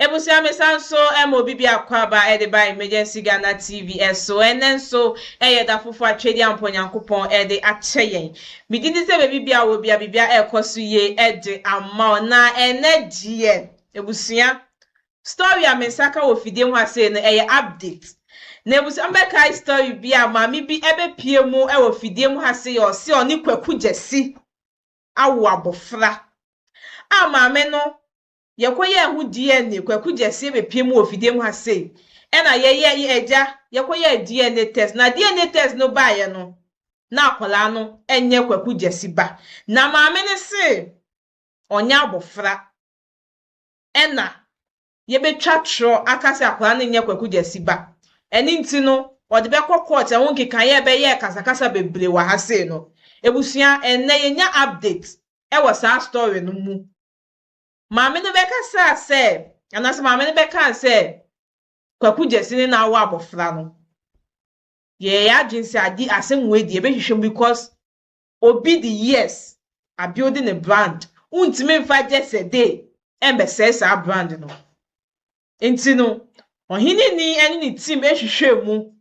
Abusua mesan nso ma obi bi akwaaba de ba Emergency Ghana TV so. Ɛnnɛ nso yɛ da foforo a Twedeampɔ Onyankopɔn de akyɛ yɛn. Me gye di sɛ baabi biara wɔ biara biribiara ɛrekɔ so yie de ama wo. Na ɛnnɛ deɛ abusua, story a me nsa ka wɔ fidie ho asei no ɛyɛ update. Na abusua me bɛkae story bi a maame bi ɛbɛpie mu wɔ fidie mu ha sei a ɔse ɔne Kwaku Gyasi awo abɔfra. A maame no Yɛkɔyɛɛ ho DNA, Kwaku Gyesɛ bɛpue mu wɔ fidie mu ha sei, ɛna yɛyɛ, yɛ agya, yɛkɔyɛɛ DNA test, na DNA test no baeɛ no, na akwadaa no nyɛ Kwaku Gyasi ba, na maame no se ɔnyɛ abɔfra, ɛna yɛbɛtwa torɔ aka sɛ akwadaa no nyɛ Kwaku Gyasi ba, ɛno nti no, wɔde bɛkɔ court, ɛho nkekaeɛ, ɛbɛyɛɛ kasakasa bebree wɔ ha sei no. Abusua, ɛnnɛ yɛnya update wɔ saa story no mu. Maame no bɛkasaa sɛ, anaasɛ maame no bɛkaa sɛ, Kwaku Gyasi ne na awo abɔfra no. Yɛyɛ yɛn adwene sɛ ade asɛm wei deɛ yɛbɛhwehwɛ mu because obi de years abuilde ne brand. Wontumi mfa just a day ɛmmɛsɛe saa brand no. Nti no, ɔhene ni ɛne ne team ɛhwehwɛɛ mu,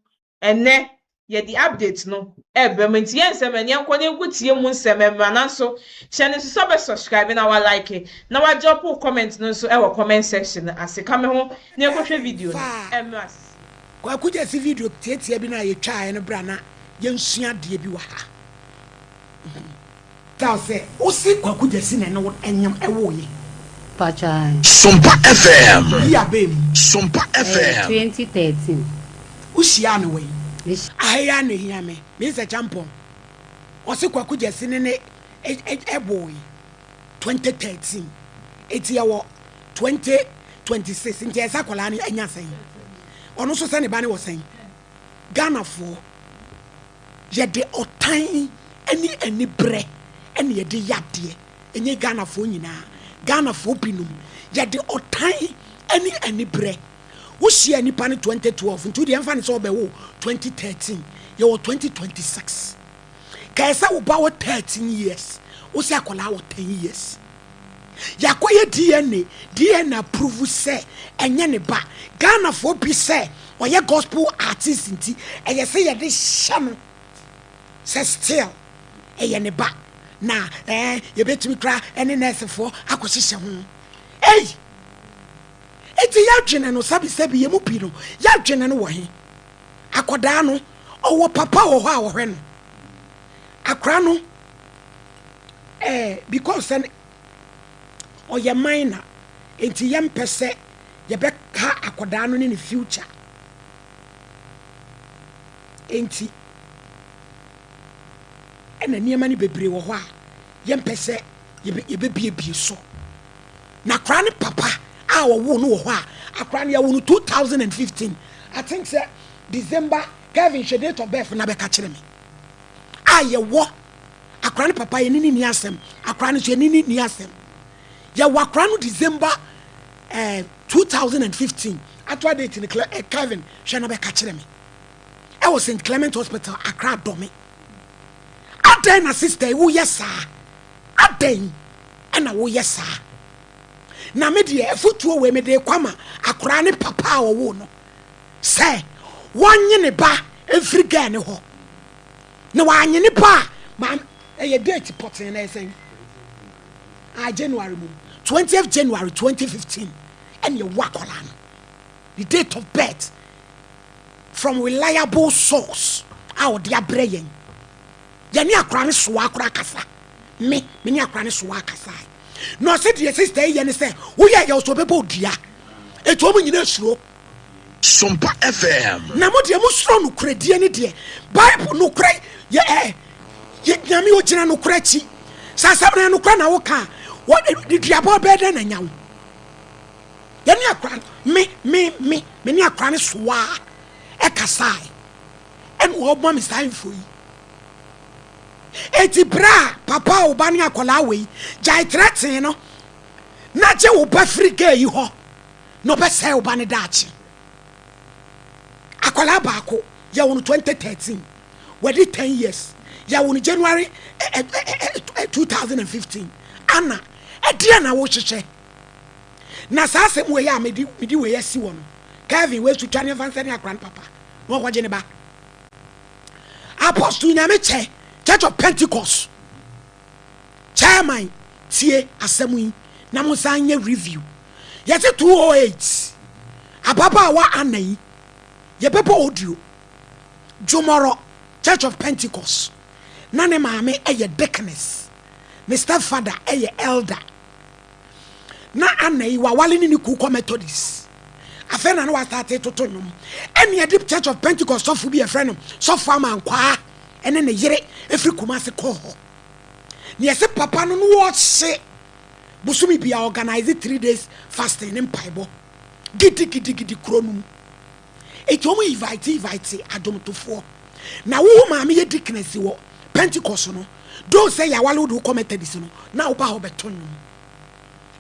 ɛnɛ yɛde update no ɛɛbrɛ mo, nti yɛ nsɛm ɛne ɛnkɔ na ɛnko tie mu nsɛm ɛmmra, nanso hyɛ no nso sɛ wobɛ subscribe na wa like na wa drop wo comment no nso ɛwɔ comment section no ase, ka me ho na ɛnkɔ hwɛ video no ɛmmra sisi. Kwaku gyesi video tiatia bi no a yɛtwaaɛ no bra na yɛnsua adeɛ bi wɔ ha. Kaa sɛ ose Kwaku Gyasi na ɛne wo nyam ɛwoo ye. Pakyaae. Sompa FM. Yi abɛɛ mu. Sompa FM. Ɛyɛ twenty thirteen. Wo hyiaa no wɛn? Me hyi. Aha yi ara na ehia me. Me nsɛ kyampɔn. Ɔse Kwaku Gyasi ne ne ɛboo ye twenty thirteen. Eti yɛwɔ twenty twenty six nti ɛyɛ sɛ akwadaa no anya sɛn? Ɔno nso sɛ ne ba no wɔ sɛn? Ghanafoɔ. Yɛde ɔtan ne aniberɛ na yɛde yɛ adeɛ, ɛnyɛ Ghanafoɔ nyinaa, Ghanafoɔ binom, yɛde ɔtan ne aniberɛ, wohyia nipa no 2012 nti wodeɛ ɛmfa ne sɛ ɔbɛwo 2013, yɛwɔ 2026, kae sɛ wo ba wɔ 13 years, wo sɛ akwadaa wɔ 10 years. Yɛakɔ yɛ DNA, DNA approve sɛ ɛnyɛ ne ba. Ghanafoɔ bi sɛ ɔyɛ gospel artist nti ɛyɛ sɛ yɛde hyɛ no sɛ still ɛyɛ ne ba. Na ɛɛ yɛbɛtumi kora ɛne nɛɛsefoɔ akɔhyehyɛ ho. Ei! Eti yɛadwene no sɛbisɛbi yɛn mu bi no yɛadwene no wɔ he? Akɔdaa no ɔwɔ papa wɔ hɔ a ɔhwɛ no. Akora no Eh because sɛ ne ɔyɛ minor nti yɛ mpɛ sɛ yɛ bɛ ha akɔdaa no ne ne future nti ɛna nneɛma no bebree wɔ hɔ a yɛ mpɛ sɛ yɛ bɛ biebie so na koraa ne papa a ɔwoo no wɔ hɔ a akoraa no yɛwo no 2015 I think sɛ December Kevin hwɛ date of birth na bɛka kyerɛ me a yɛwɔ Akora ne papa yɛne ne ni asɛm. Akora no nso yɛne ne ni asɛm. Yɛwɔ akora no December eh, 2015. Atoa date no eh, Kevin hwɛ na bɛka kyerɛ me. Ɛwɔ St. Clement Hospital, Akra Dɔme. Adɛn na sister yi woyɛ saa? Adɛn na woyɛ saa? Na me deɛ afotuo wei mede kɔ ama akora ne papa a ɔwo no sɛ wɔnye ne ba mfiri gaa ne hɔ. Na wanye nipa a maame ɛyɛ date pɔtee na ɛsɛn a January mu twentieth January twenty fifteen ɛna ɛwɔ akwadaa no ne date of birth from reliable source a ɔde abrɛ yɛn yɛne akwadaa no soa akora akasa me me ne akwadaa no soa akasa na ɔsɛ deɛ sista yi yɛ ne sɛ woyɛ yɛ ɔsɔ bɛbɔ odua etu wɔn nyinaa suro. Sompa FM. Na mo deɛ mosuro nokorɛdie ne deɛ Bible nokorɛ yɛ ɛ yɛ Nyame ɔgyina nokorɛ akyi sɛ asɛm na nokorɛ na woka a wɔde duabɔ bɛɛ dɛn na nya wo yɛne akora me me me me ne akora ne soaa ɛkasae ɛna ɔma me saa info yi eti berɛ a papa a wo ba ne akwadaa wei gyae trɛtee no na gye wo ba firi gaa yi hɔ na ɔbɛsɛe wo ba no daakye. Akwadaa baako, yɛwo no twenty thirteen, wadi ten years, yɛwo no January two thousand and fifteen. Ana, ɛdeɛ na wohyehyɛ? Na saa asɛm wei a medi medi wei asi wɔ no, Kevin wei so twa ne mfa nsɛne akwadaa no papa na ɔkɔgye ne ba. Apostle Nyame kyɛ, Church of Pentecost chairman tie asɛm yi na mo nsa nyɛ review. Yɛse 208 ababaawa anan yi yɛbɛbɔ audio Dwomɔrɔ Church of Pentecost na ne maame yɛ deaconess ne stepfather yɛ elder na anan yi wawale ne ne kuw kɔ Methodist afei na ne wasate toto nnwom ɛne ɛde Church of Pentecost sɔfo bi yɛfrɛ no sɔfo amankwaa ɛne ne yere ɛfiri Kumase kɔɔ hɔ ne yɛse papa no no wɔhye bosome biaa organise three days fasting ne mpaebɔ gidigidigidi kuro no mu enti wɔn invite invite adomtofoɔ na woho maame yɛ deaconess wɔ Pentecost no doo sɛ yɛawale wode wokɔ Methodist no na woba hɔ bɛto nnwom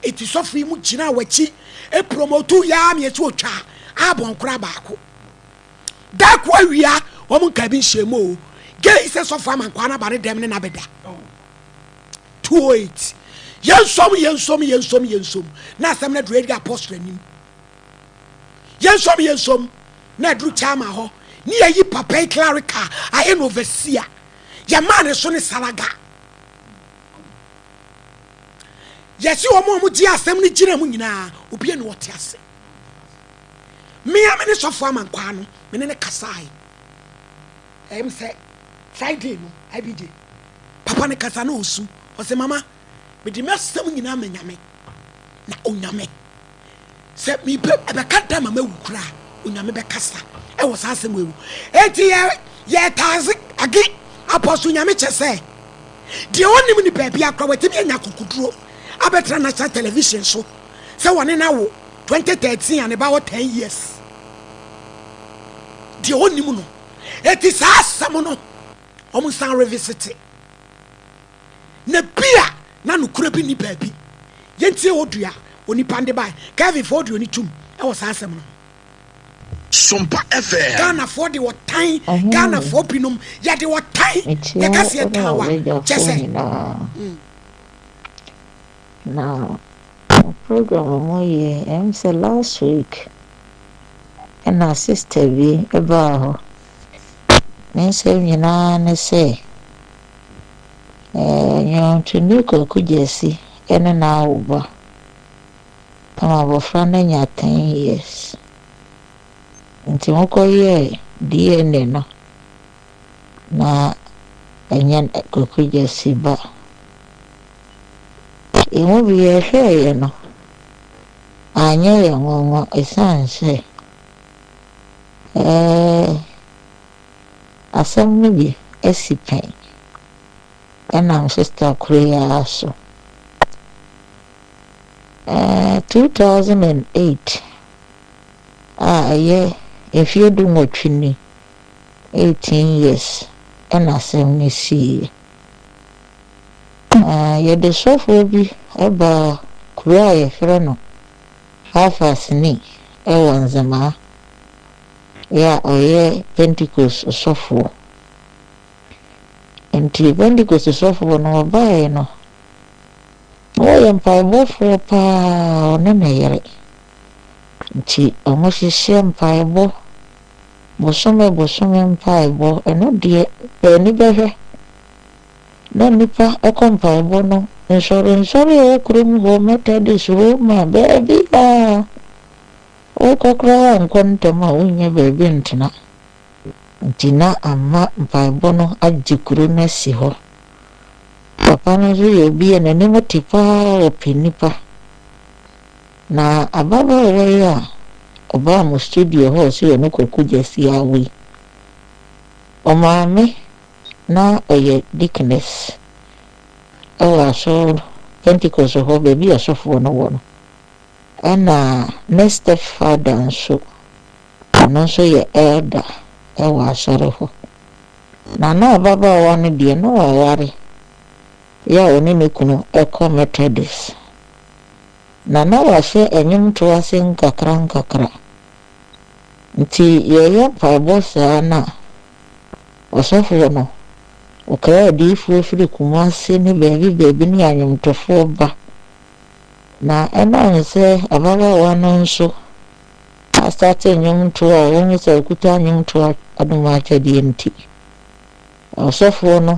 enti sɔfo yi mu gyina wakyi promotu yɛa meyɛ sɛ ɔtwa abɔn koraa baako da ko awia wɔn nka bi nhyɛmu o gei sɛ sɔfo amankwaa no aba ne dɛm ne nabɛda 208 yɛnsom yɛnsom yɛnsom yɛnsom na asɛm no aduru ɛdi apɔstol anim yɛnsom yɛnsom na aduru kyama hɔ ne yɛyi papa yi klarika ayɛ no overseer yɛmaa ne so ne saraga yɛsi wɔn a wɔgye asɛm no gyina mu nyinaa obi ne ɔte ase mmea me ne sɔfo amankwaa no me ne ne kasae ɛyɛ m sɛ friday no abigye Papa no kasa na ɔsu. Ɔse, Mama, mede m'asɛm nyinaa ma Nyame, na Onyame. Sɛ mepɛ mu, ɛbɛka da ma mawu koraa, Onyame bɛkasa wɔ saa asɛm wei mu. Enti yɛ, yɛtaase age Apostle Nyame kyɛ sɛ, deɛ ɔnnim no baabiara koraa, watumi anya akokoduro abɛtra National Television so sɛ wɔne no awo 2013 a ne ba wɔ 10 years. Deɛ ɔnnim no. Enti saa asɛm no, wɔn san revisite na bi a na nokorɛ bi nni baabi yɛntie wɔ dua onipa nde bae kevin fa audio no tum ɛwɔ saa asɛm no Sompa FM. Ghanafoɔ de wɔtan Ghanafoɔ binom yɛde wɔtan yɛka seɛ tan wa kyɛ sɛ Na wɔ program a ɔmo yɛ ɛyɛ me sɛ last week ɛna sister bi ɛbaa hɔ. Ne nsɛm nyinaa ne sɛ ɛɛ nnwontoni Kwaku Gyasi ɛne no awo ba. Ɛma abɔfra no anya ten years. Nti ɔmo kɔ yɛɛ DNA no na ɛnyɛ Kwaku Gyasi ba. Yɛn mu bi yɛhwɛeɛ no, anyɛ yɛn nwanwa ɛsiane sɛ eh, asɛm no bi asi pɛn ɛnam sista koro yi ara so. Eh, 2008 a ɛyɛ mfeɛ du nwɔtwe ni, 18 years, ɛna asɛm no siiɛ. Na yɛde sɔfoɔ bi baa kuro a yɛfrɛ no Hafasni wɔ Nzemaa, yɛ a ɔyɛ Pentekost sɔfoɔ. Nti Pentekost sɔfoɔ no ɔbaeɛ no, na wɔyɛ mpaebɔ frɛ pa ara, ɔne ne yere. Nti wɔhyehyɛ mpaebɔ, bosome bosome mpaebɔ, ɛno deɛ paani bɛhwɛ na nnipa kɔ mpaebɔ no nsɔrensɔre wɔ kurom hɔ, Methodist, Roma, baabi a wokɔ koraa woankɔ ntɛm a wonnya baabi ntena. Nti na ama mpaebɔ no agye kuro no asi hɔ. Papa no nso yɛ obi a n'anim te paa, ɔpɛ nnipa. Na ababaawa yi a ɔbaa mo studio hɔ a ɔse ɔne Kwaku Gyasi awo yi, ɔmaa me na ɔyɛ deaconess wɔ asɔr no, Pentecost hɔ beebi a ɔsɔfo no wɔ no. Nna ne stepfather so, ɔno so yɛ elder wɔ asɔr hɔ. Na na ababaawa no deɛ, na ɔawar, yɛ a ɔne ne kunu kɔ Methodist. Na na wɔahyɛ nwomtow ase nkakrankakra. Ntsi yɛyɛ mpaabɔ saa no a, Ɔsɔfoɔ no, ɔkae adiyifoɔ firi Kumasi ne baabi baabi ne anwomtofoɔ ba. Na ɛnam sɛ ababaawa no nso astate nnwomtoɔ a wɔhu sɛ ɔkuta nnwomtoɔ anom akyɛdeɛ nti, ɔsɔfoɔ no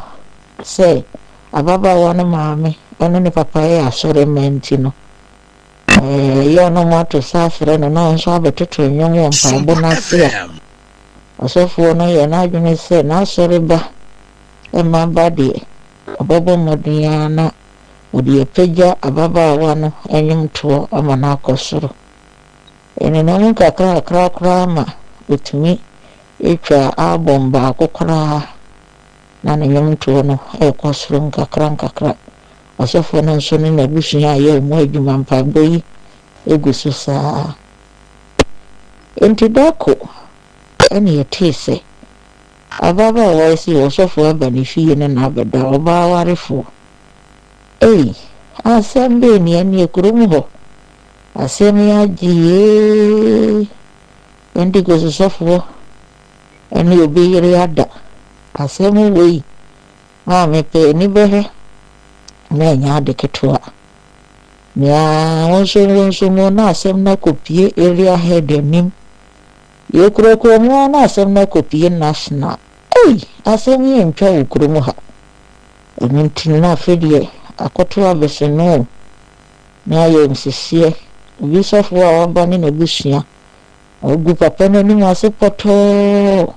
sɛ ababaawa no maame ne ne papa yɛ asɔremma nti no, ɛyɛ ɔnom ato sa afrɛ no na ɔno nso abɛtoto nnwom wɔ mpaebɔ no ase a Ɔsɔfoɔ no yɛ n'adwene sɛ n'asɔre ba mma ba deɛ, ɔbɛbɔ mmɔden ara na ɔde apagya ababaawa no nnwomtoɔ ama no akɔ soro. Ɛnenam nkakrankakra koraa ma ɔtumi twa album baako koraa na ne nnwomtoɔ no rekɔ soro nkakrankakra. Ɔsɔfoɔ no nso ne n'abusua reyɛ wɔn adwuma mpaebɔ yi gu so saa ara. Enti da ko na yɛtee sɛ ababaawa yi se ɔsɔfo aba ne fie ne no abɛda, ɔbaa awarefoɔ. Ei, asɛm bɛn ni, ɛnneɛ kurom hɔ asɛm yi agye ee! Pentekosefoɔ ne obi yere ada, asɛm wei A Mepɛ anibere na ɛnyɛ ade ketewa. Nea wonso wonso no na asɛm no akopue Area Head anim. Yɛkurakura mu ara na asɛm no akopue National. Ei! Asɛm yi antwa wɔ kurom ha. Ɛno nti na afei deɛ akɔto abɛhyɛ no o, na ayɛ nsiseɛ. Obi sɔfo a waba ne n'abusua Wɔagu papa no anim ase pɔtɔɔ.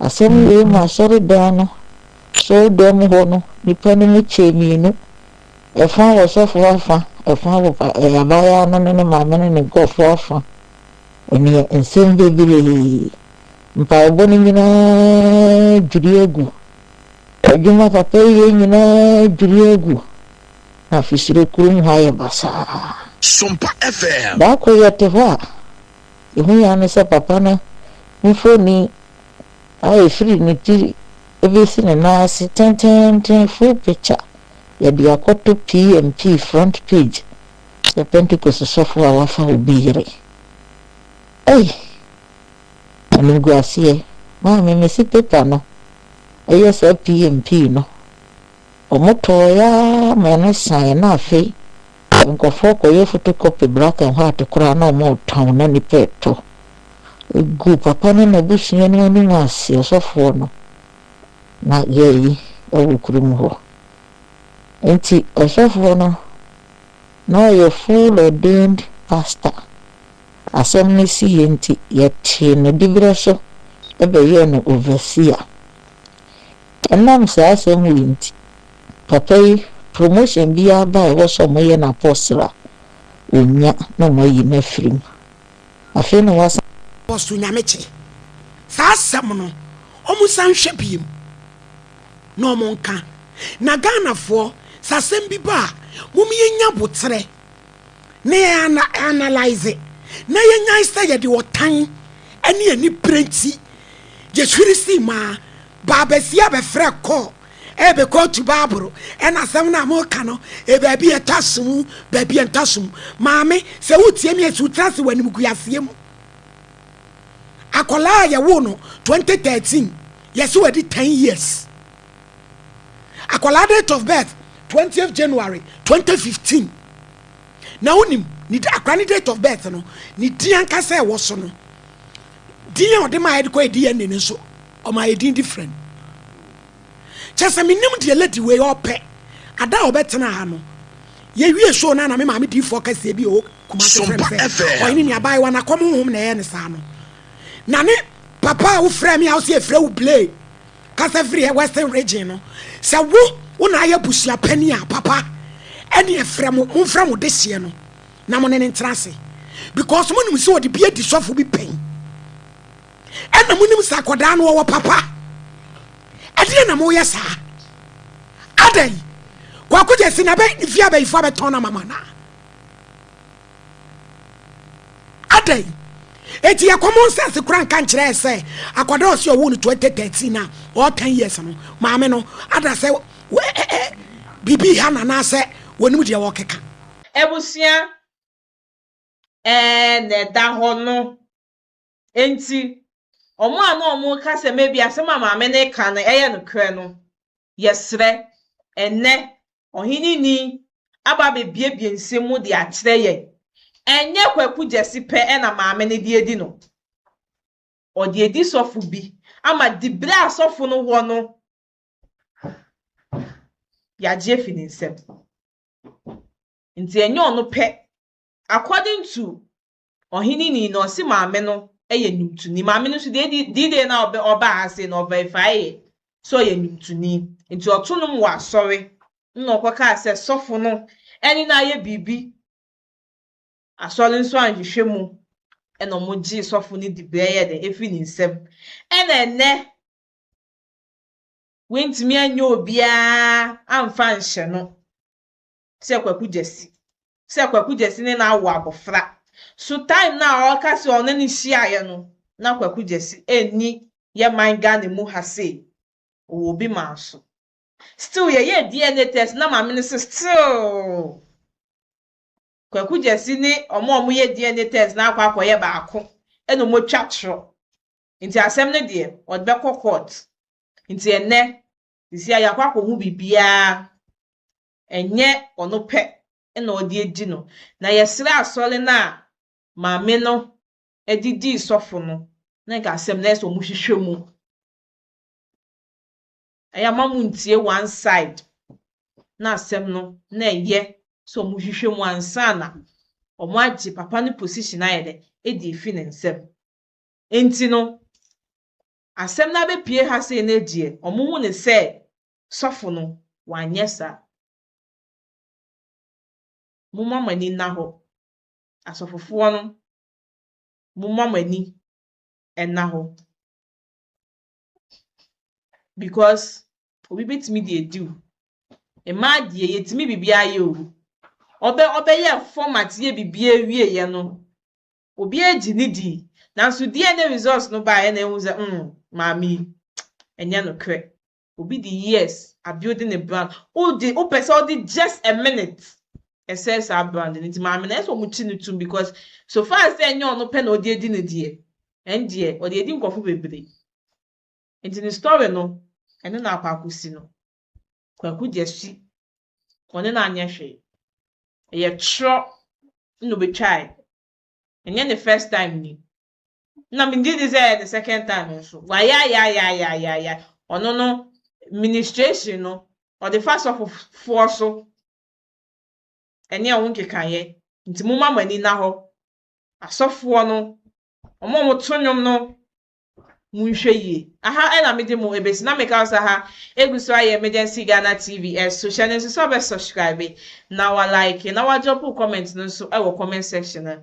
Asɛm wei maa asɔredan no asɔredan mu hɔ no nnipa no mu kyɛɛ mmienu, ɛfã wɔ ɔsɔfo afã, ɛfã wɔ abaayaa no ne ne maame ne ne nkurɔfo afã. Ɛnneɛ nsɛm bebree, mpaebɔ no nyinaa dwiri agu. Adwuma papa yɛ nyinaa dwiri agu. Na fisire kurom hɔ ayɛ basaa. Sompa FM. Da koro yɛte hɔ a, yɛn hu ara ne sɛ papa no mfoni a ɛfiri ne ti bɛsi ne nan ase tenteenten, full picture, yɛde akɔto PMP front page sɛ Pentekoste sɔfoɔ a wafa obi yere. Ei! Animguaseɛ. Maame, mese paper no yɛ saa PMP no. Wɔtɔeɛ ara ma ɛno saeɛ na afei nkurɔfoɔ kɔyɛ photocopy black and white koraa na wɔretɔn na nnipa retɔ. Ɛguu papa ne n'abusua no anim ase, ɔsɔfoɔ no, na yɛayi wɔ kurom hɔ. Enti ɔsɔfoɔ no, na ɔyɛ full ordained pastor. Asɛm no siiɛ nti, yɛtee no diberɛ so bɛyɛɛ no overseer. Ɛnam saa asɛm wei nti, papa yi, promotion biara ba a ɛwɔ sɛ wɔyɛ no apostle a, ɔnnya na wɔayi no afiri mu. Afei na wɔasan. Apostle Nyamekyɛ. Saa asɛm no, wɔnsan nhwɛ bio na wɔnka. Na Ghanafoɔ, sɛ asɛm bi ba a, mom yɛnya boterɛ. na yɛanalyse na yɛnyan sɛ yɛde ɔtan ne anibere nti yɛhwiri sii mu a baabasia bɛfrɛ kɔɔ ɛbɛ kɔɔtu baaboro ɛna asɛm no a moka no ɛbaabi ɛtɔ asom baabi ɛntɔ asom maame sɛ wotie mi ɛsi wotra se w'anim guaseɛ mu akɔlaa a yɛwo no 2013 yɛsɛ wɔadi 10 years akwadaa date of birth twentieth january twenty fifteen na wonim ne akwadaa ne date of birth no ne din ankasa ɛwɔ so no din a ɔde ma yɛde kɔ edi yɛn ne no nso ɔma yɛ din different kyɛ sɛ menim deɛ lady wei ɔpɛ ada a ɔbɛtena ha no yɛwie show no ana me maame diifoɔ kɛseɛ bi ɔwɔ kuma sɛ sɛ ɔyene ne abaayewa no akɔm honhom na ɛyɛ ne saa no na ne papa a wofrɛ me a wo sɛ ɛfrɛ wo blee Kasa firi yɛ western region no sɛ wo wo na ayɛ busua panin a papa ɛne ɛfrɛ mo mo mfrɛ mo deseɛ no na mo ne ne ntena ase because mo nim sɛ ɔde bi adi sɔfo bi pɛn ɛna mo nim sɛ akɔdaa no ɔwɔ papa ɛdeɛ na mo yɛ saa adɛn kwakogyɛ si na bɛ ne fie abɛyifoɔ abɛtɔn na mama naa Adɛn enti yɛ common sense kora nka nkyerɛɛ sɛ akwadaa ɔsi ɔwɔ no 2013 na ɔwɔ 10 years no maame no ada sɛ biribi ha na anaasɛ wɔnim deɛ wɔkeka. Abusua ɛɛ na ɛda hɔ no. Enti, wɔn a na wɔreka sɛ maybe asɛm a maame no reka no yɛ nokorɛ no, yɛsrɛ, ɛnnɛ, Ɔheneni aba abɛbuebue nsɛm mu de akyerɛ yɛn. Ɛnyɛ Kwaku Gyasi pɛ na maame no de adi no. Ɔde adi sɔfo bi ama diberɛ a sɔfo no wɔ no, yɛagye afi ne nsam. Enti ɛnyɛ ɔno pɛ. According to Ɔhene nii na ɔse maame no yɛ nwomtoni. Maame no nso deɛ di di day na ɔbɛ ɔbaa ha sei no ɔverifaae yɛ sɛ ɔyɛ nwomtoni. Nti ɔto nom wɔ asɔre na ɔkɔkaa sɛ sɔfo no ɛne no ayɛ biribi. Asɔre nso anhwehwɛ mu ɛna ɔmo gyee sɔfo no di bɛɛyɛ dɛ efiri ne nsam. Ɛna ɛnɛ wentumi anyɛ obiaa amfa anhyɛ no. sɛ kwaku gyasi sɛ kwaku gyasi ne no awo abɔfra so time no a ɔka sɛ ɔne no hyiaeɛ no na kwaku gyasi ɛnni yɛ man Ghana mu ha sei ɔwɔ obi maa so still yɛyɛɛ DNA test na maame no se still kwaku gyasi ne ɔmo a ɔmo yɛ DNA test no akɔ akɔyɛ baako ɛna ɔmo atwa torɔ nti asɛm no deɛ ɔde bɛkɔ court nti ɛnɛ sisi a yɛakɔ akɔhu biribiaa ɛnyɛ ɔno pɛ na ɔde adi no, na yɛsrɛ asɔre no a maame no de dii sɔfo no na nka asɛm no ayɛ sɛ wɔhwehwɛ mu. Ɛyɛ a mma montie one side na asɛm no na ɛyɛ sɛ wɔhwehwɛ mu ansa na wɔagye papa no position ayɛ dɛ adi afi ne nsam. Enti no, asɛm no abɛpue ha sei no deɛ, wɔhu no sɛ Sɔfo no, wanyɛ saa. Momma mo ani nna hɔ. Asɔfofoɔ no, momma mo ani nna hɔ. Because obi bɛtumi de adi wo. Mmaa deɛ, yɛtumi biribiara yɛ o. Ɔbɛ, ɔbɛyɛɛ format yɛ biribiara wieeɛ no, obiara gye ne dii. Nanso DNA results no baeɛ na yɛhuu sɛ, mm, maame yi, ɛnyɛ nokorɛ. Obi de years abuilde ne brand, wode wopɛ sɛ ɔde just a minute ɛsɛe saa brand no nti maame no ɛyɛ sɛ wɔkyi no tom because so far as sɛ ɛnyɛ ɔno pɛ na ɔde adi no deɛ, ɛndeɛ ɔde adi nkurɔfo bebree. Nti ne story no ɛno na akɔ akɔsi no. Kwaku Gyasi ɔne no anyɛ hwee. Ɛyɛ twerɛ na ɔbɛtwae. Ɛnyɛ ne first time ni. na mengye di sɛ ɛyɛ the second time nso wayayayayayayae ɔno no ministration no ɔde fa sɔfofoɔ so ɛne ɛho nkekaeɛ nti momma mo ani nna hɔ asɔfoɔ no wɔn a wɔto nnwom no Monhwɛ yie. Aha na mede mo besi na meka wo sɛ aha egu so ayɛ Emergency Ghana TV so hyɛ no nso sɛ wobɛ subscribe na wa like na wa drop wo comment no nso wɔ comment section no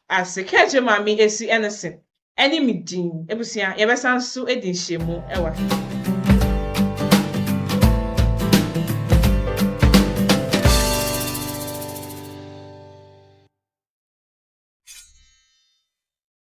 ase ka akyerɛ Maame Esi ne se ne me din. Abusua yɛbɛsan nso adi nhyiamu wɔ ha.